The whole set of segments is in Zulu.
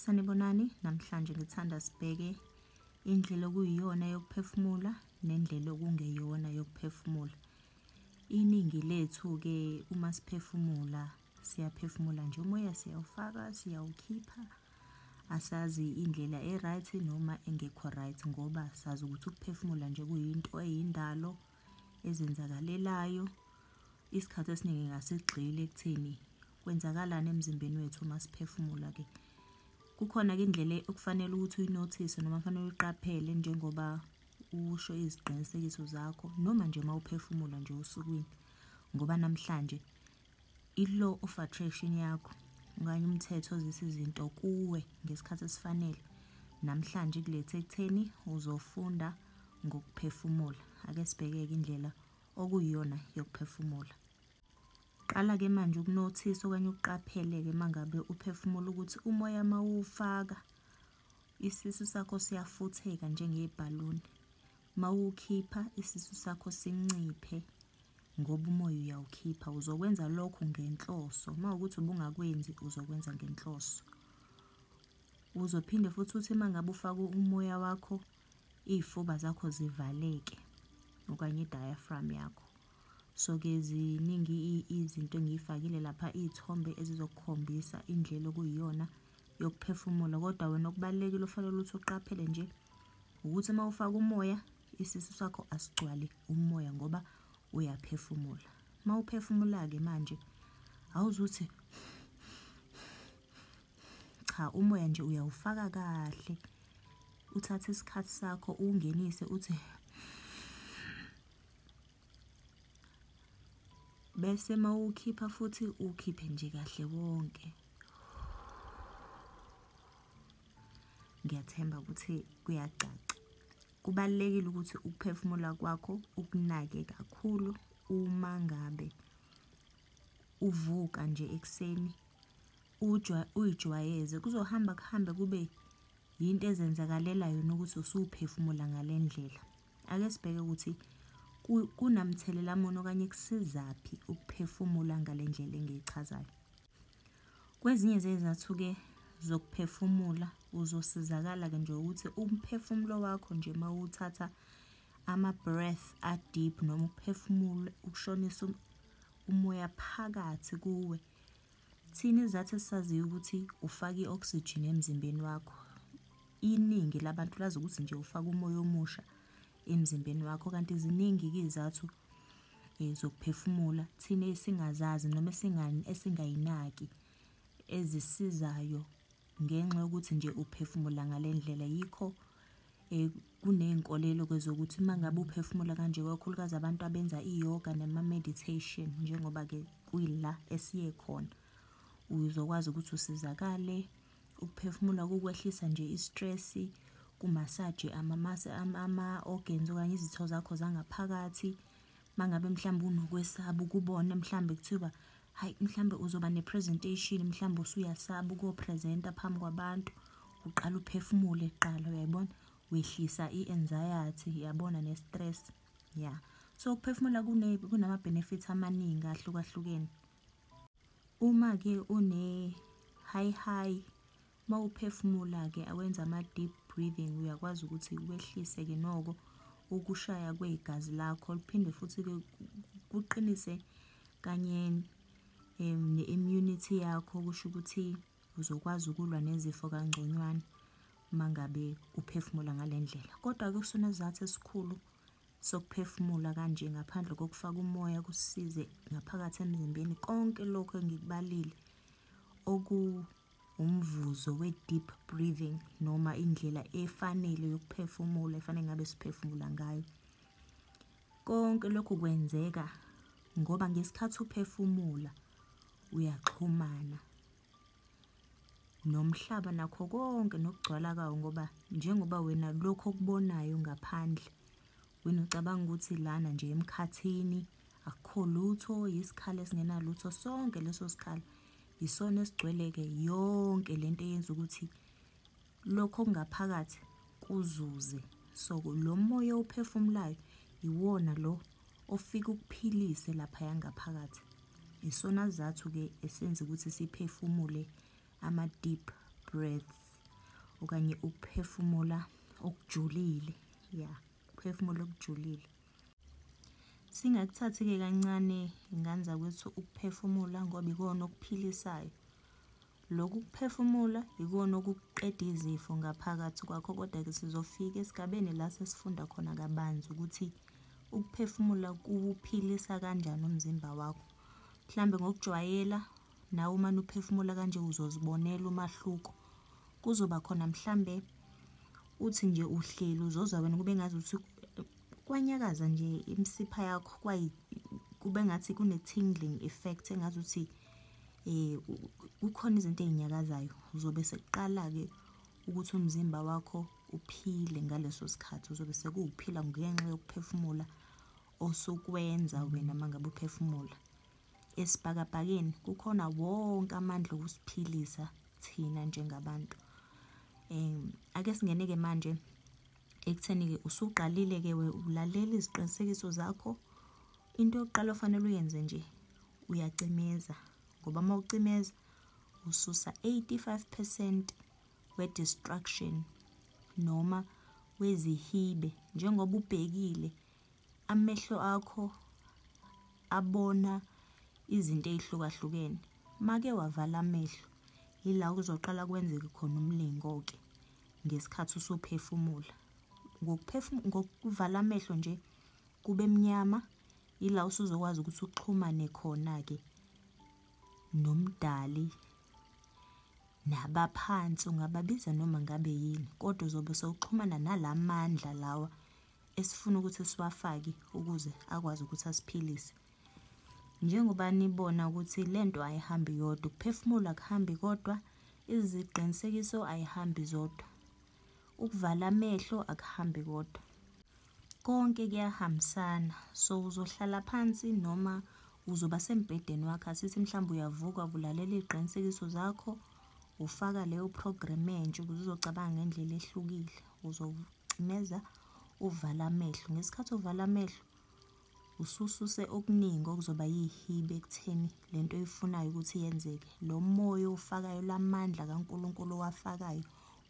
Sanibonani, namhlanje ngithanda sibheke indlela okuyiyona yokuphefumula nendlela okungeyona yokuphefumula. Iningi lethu-ke uma siphefumula siyaphefumula nje umoya siyawufaka siyawukhipha asazi indlela e-right noma engekho right ngoba sazi ukuthi ukuphefumula nje kuyinto eyindalo ezenzakalelayo isikhathi esiningi ngasigxile ekutheni kwenzakalani emzimbeni wethu uma siphefumula ke kukhona-ke indlela okufanele ukuthi uyinothise noma kufanele uyiqaphele njengoba usho iziqinisekiso zakho noma nje uma uphefumula nje osukwini ngoba namhlanje i-law of attraction yakho okanye umthetho ozisa izinto kuwe ngesikhathi esifanele namhlanje kulethe ekutheni uzofunda ngokuphefumula ake sibheke-ke indlela okuyiyona yokuphefumula Qala-ke manje ukunothisa okanye ukuqaphele-ke uma ngabe uphefumula ukuthi umoya uma uwufaka isisu sakho siyafutheka njengebhaluni. Uma uwukhipha isisu sakho sinciphe ngoba umoya uyawukhipha. Uzokwenza lokhu ngenhloso. Uma ukuthi ubungakwenzi uzokwenza ngenhloso. Uzophinde futhi uthi uma ngabe ufaka umoya wakho iy'fuba zakho zivaleke okanye i-diaphragm yakho. So-ke ziningi izinto engiyifakile lapha iy'thombe ezizokukhombisa indlela okuyiyona yokuphefumula kodwa wena okubalulekile ofanele ukuthi uqaphele nje ukuthi uma ufaka umoya isisu sakho asigcwali umoya ngoba uyaphefumula uma uphefumula-ke manje awuzuthi cha umoya nje uyawufaka kahle uthathe isikhathi sakho uwungenise uthi bese mawukhipha futhi ukhiphe nje kahle wonke ngiyathemba ukuthi kuyacaca kubalekile ukuthi ukuphefumula kwakho ukunake kakhulu uma ngabe uvuka nje ekuseni uyijwayeze kuzohamba kuhambe kube yinto ezenzakalela yona ukuthi usuphefumula ngale ndlela Ake sibheke ukuthi kunamthelela muni okanye kusizaphi ukuphefumula ngale ndlela engiyichazayo. Kwezinye zezathu-ke zokuphefumula uzosizakala-ke nje ukuthi umphefumulo wakho nje uma uthatha ama-breath a-deep noma ukuphefumula ukushonisa umoya phakathi kuwe Thina izathi esisaziyo ukuthi ufaka i-oxygen emzimbeni wakho iningi labantu lazi ukuthi nje ufaka umoya omusha emzimbeni wakho kanti ziningi-ke izathu um eh, zokuphefumula thina esingazazi noma esingayinaki ezisizayo Ngenxa yokuthi nje uphefumula ngale ndlela yikho um kuney'nkolelo ke zokuthi uma ngabe uphefumula kanje kakhulukazi abantu abenza iyoga nema-meditation njengoba-ke kuyila esiye khona uzokwazi ukuthi usizakale ukuphefumula kukwehlisa nje i-stress-i kumasaje ama-organs okanye izitho zakho zangaphakathi mangabe mhlawumbe unokwesaba ukubona mhlawumbe kuthiwa hayi mhlawumbe uzoba nepresentation mhlawumbe usuyasaba ukuyopresenta phambi kwabantu uqala uphefumule kuqala uyayibona wehlisa i-anxiety yabona ne-stress ya yeah. so ukuphefumula kunama-benefit amaningi ahlukahlukene uma-ke une-high high Uma uphefumula-ke awenza ama-deep breathing uyakwazi ukuthi wehlise-ke noko ukushaya kwegazi lakho liphinde futhi-ke kuqinise kanye um ne-immunity yakho kusho ukuthi uzokwazi ukulwa nezifo kangconywana uma ngabe uphefumula ngale ndlela kodwa-ke kusona sizathu esikhulu sokuphefumula kanje ngaphandle kokufaka umoya kusize ngaphakathi emzimbeni konke lokho engikubalile oku umvuzo we-deep breathing noma indlela efanele yokuphefumula efanele ngabe siphefumula ngayo konke lokhu kwenzeka ngoba ngesikhathi uphefumula uyaxhumana nomhlaba nakho konke nokugcwala kawo ngoba njengoba wena lokho okubonayo ngaphandle wena ucabanga ukuthi lana nje emkhathini akukho lutho yisikhala esingenalutho sonke leso sikhala Yisona esigcwele-ke yonke le nto eyenza ukuthi lokho okungaphakathi kuzuze. So lo moya owuphefumulayo iwona lo ofika ukuphilise laphaya ngaphakathi. Yisona sizathu-ke esenza ukuthi siphefumule ama-deep breaths okanye ukuphefumula okujulile. Ya, ukuphefumula okujulile. Singakuthathi-ke kancane ngane zakwethu ukuphefumula ngoba ikona okuphilisayo. Lokhu kuphefumula ikona okuqeda izifo ngaphakathi kwakho kodwa-ke sizofika esigabeni la sesifunda khona kabanzi ukuthi ukuphefumula kuwuphilisa kanjani umzimba wakho. Mhlawumbe ngokujwayela nawe uma uphefumula kanje uzozibonela umahluko kuzoba khona mhlambe uthi nje uhleli uzozwa wena kube ngazi ukuthi kwanyakaza nje imsipha yakho kwayi kube ngathi kune tingling effect engazi ukuthi eh kukhona izinto ezinyakazayo uzobe sekuqala ke ukuthi umzimba wakho uphile ngaleso sikhathi uzobe sekuwuphila ngenxa yokuphefumula osukwenza wena mangabe uphefumula esibhakabhakeni kukhona wonke amandla okusiphilisa thina njengabantu um ake singene-ke manje ekutheni-ke usuqalile-ke we ulalela iziqinisekiso zakho into yokuqala ofanele uyenze nje uyacimeza ngoba uma ucimeza ususa 85 percent we-destruction noma wezihibe njengoba ubhekile amehlo akho abona izinto ey'hlukahlukene make wavala amehlo yila kuzoqala kwenzeke khona umlingo-ke ngesikhathi usuphefumula ngokuvala amehlo nje kube mnyama yila usuzokwazi ukuthi uxhumane khona-ke nomdali nabaphansi ungababiza noma ngabe yini kodwa uzobe sewuxhumana nalamandla lawa esifuna ukuthi siwafake ukuze akwazi ukuthi asiphilise njengoba nibona ukuthi le nto ayihambi yodwa ukuphefumula kuhambi kodwa iziqinisekiso ayihambi zodwa ukuvala amehlo akuhambi kodwa konke kuyahambisana so uzohlala phansi noma uzoba sembhedeni wakho asithi mhlawumbe uyavuka kulalela iy'qinisekiso zakho ufaka leyo program entsha ukuze uzocabanga ngendlela ehlukile uzocimeza uvala amehlo ngesikhathi uvala amehlo usususe okuningi okuzoba yihibe ekutheni le nto oyifunayo ukuthi yenzeke lo moya owufakayo lamandla kankulunkulu owafakayo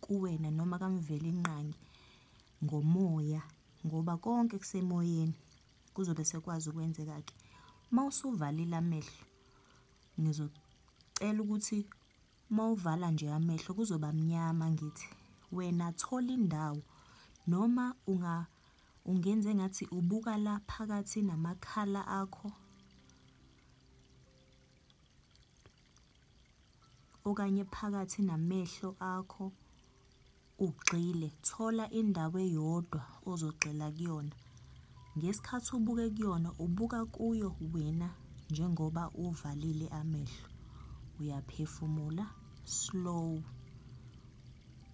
kuwena noma kamveli inqangi ngomoya ngoba konke kusemoyeni kuzobe sekwazi ukwenzeka-ke uma usuvalile amehlo ngizocela ukuthi Uma uvala nje amehlo kuzoba mnyama ngithi wena thola indawo noma unga ungenze ngathi ubuka la phakathi namakhala akho okanye phakathi namehlo akho Ugxile, thola indawo eyodwa ozogxila kuyona. Ngesikhathi ubuke kuyona, ubuka kuyo wena njengoba uvalile amehlo. Uyaphefumula slow.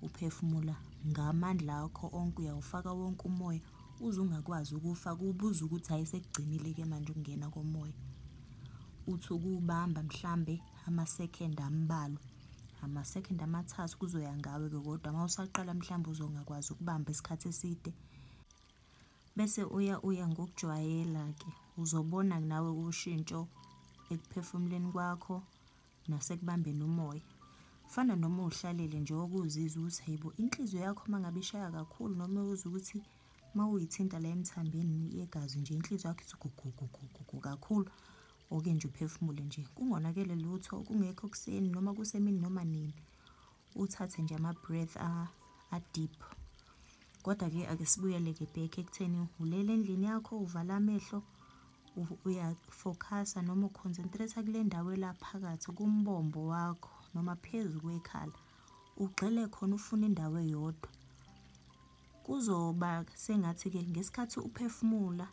Uphefumula ngamandla akho onke, uyawufaka wonke umoya uze ungakwazi ukufa kubuza ukuthi hayi sekugcinile-ke manje ukungena komoya. Uthi ukuwubamba mhlambe amasekhende ambalwa. ama-second amathathu kuzoya ngawe-ke kodwa uma usaqala mhlawumbe uzongakwazi ukubamba isikhathi eside bese uya uya ngokujwayela-ke uzobona nawe ushintsho ekuphefumuleni kwakho nasekubambeni umoya fana noma uhlalele nje okuzizwa ukuthi hayibo inhliziyo yakho uma ngabe ishaya kakhulu noma uzwa ukuthi uma uyithinta la emthambeni yegazi nje inhliziyo yakho ithi gugugugugugu kakhulu Oke nje uphefumule nje, kungonakele lutho, kungekho kuseni noma kusemini noma nini. Uthathe nje ama-breath a-deep. Kodwa-ke ake sibuyele-ke back ekutheni ulele endlini yakho, uvala amehlo, uyafocus-a noma uconcentrate-a kule ndawo elaphakathi kumbombo wakho noma phezu kwekhala. Ugxile khona ufune indawo eyodwa. Kuzoba sengathi-ke ngesikhathi uphefumula,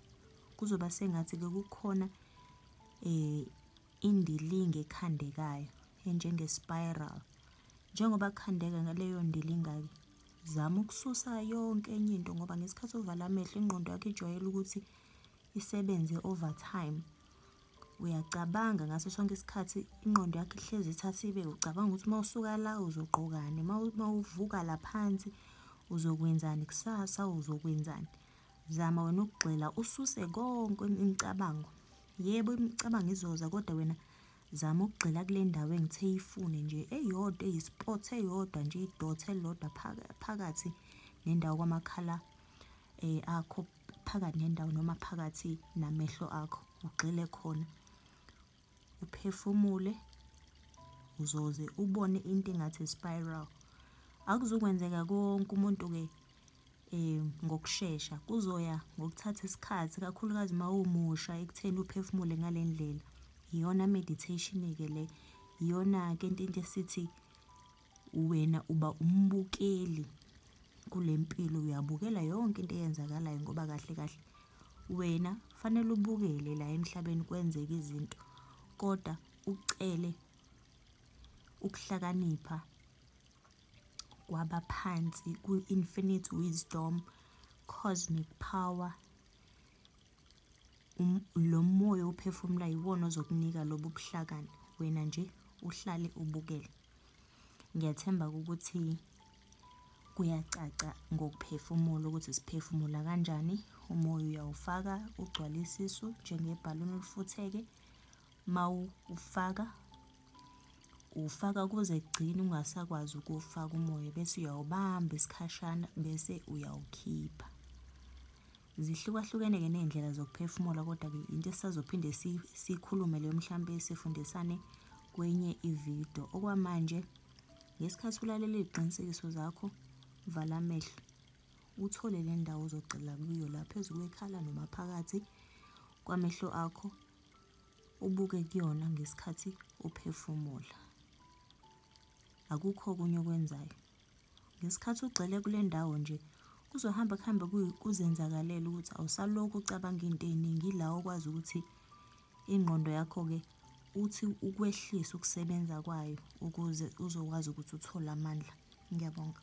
kuzoba sengathi-ke kukhona um indilinga ekhandekayo enjenge-spiral njengoba kukhandeka ngaleyo ndilinga-ke zama ukususa yonke enye into ngoba ngesikhathi ovala amehlo ingqondo yakho ijwayele ukuthi isebenze overtime uyacabanga ngaso sonke isikhathi ingqondo yakho ihlezi ithatha ibe ucabanga ukuthi uma usuka la uzogqokani uma uvuka laphansi uzokwenzani kusasa uzokwenzani Zama wena ukugxila ususe konke imicabango. Yebo imicabango izoza kodwa wena zama ukugxila kule ndawo engithe yifune nje eyodwa eyisport eyodwa nje idot elilodwa phakathi nendawo kwamakhala eh akho phakathi nendawo noma phakathi namehlo akho ugxile khona. uphefumule uzoze ubone into engathi spiral akuzokwenzeka konke umuntu ke eh ngokusheshsha kuzoya ngokuthatha isikhathi kakhulukazi uma umusha ekutheni uphefumule ngalendlela iyona meditation ke le iyona ke into esithi wena uba umbukeli kule mpilo uyabukela yonke into eyenzakalayo ngoba kahle kahle wena fanele ubukele la emhlabeni kwenzeka izinto kodwa ucele ukuhlakanipha kwabaphansi ku-infinite wisdom cosmic power Um, lo moya ophefumula yiwona ozokunika lobu buhlakani wena nje uhlale ubukele ngiyathemba ukuthi kuyacaca ngokuphefumula ukuthi siphefumula kanjani umoya uyawufaka ugcwale isisu njengebhaluni olufutheke mawufaka ufaka kuze kugcine ungasakwazi ukuwufaka umoya bese uyawubamba isikhashana bese uyawukhipha Zihlukahlukene-ke ney'ndlela zokuphefumula kodwa-ke into esisazophinde siyikhulume leyo mhlawumpe sifundisane kwenye ividiyo okwamanje ngesikhathi ulalela iy'qinisekiso zakho vala amehlo uthole le ndawo ozogxila kuyo la phezu kwekhala noma phakathi kwamehlo akho ubuke kuyona ngesikhathi uphefumula akukho okunye okwenzayo Ngesikhathi ugxile kule ndawo nje, kuzohamba kuhambe kuzenzakalele ukuthi awusalokhu ucabanga into ey'ningi, ila okwazi ukuthi ingqondo yakho-ke uthi ukwehlise ukusebenza kwayo ukuze uzokwazi ukuthi uthole amandla. Ngiyabonga.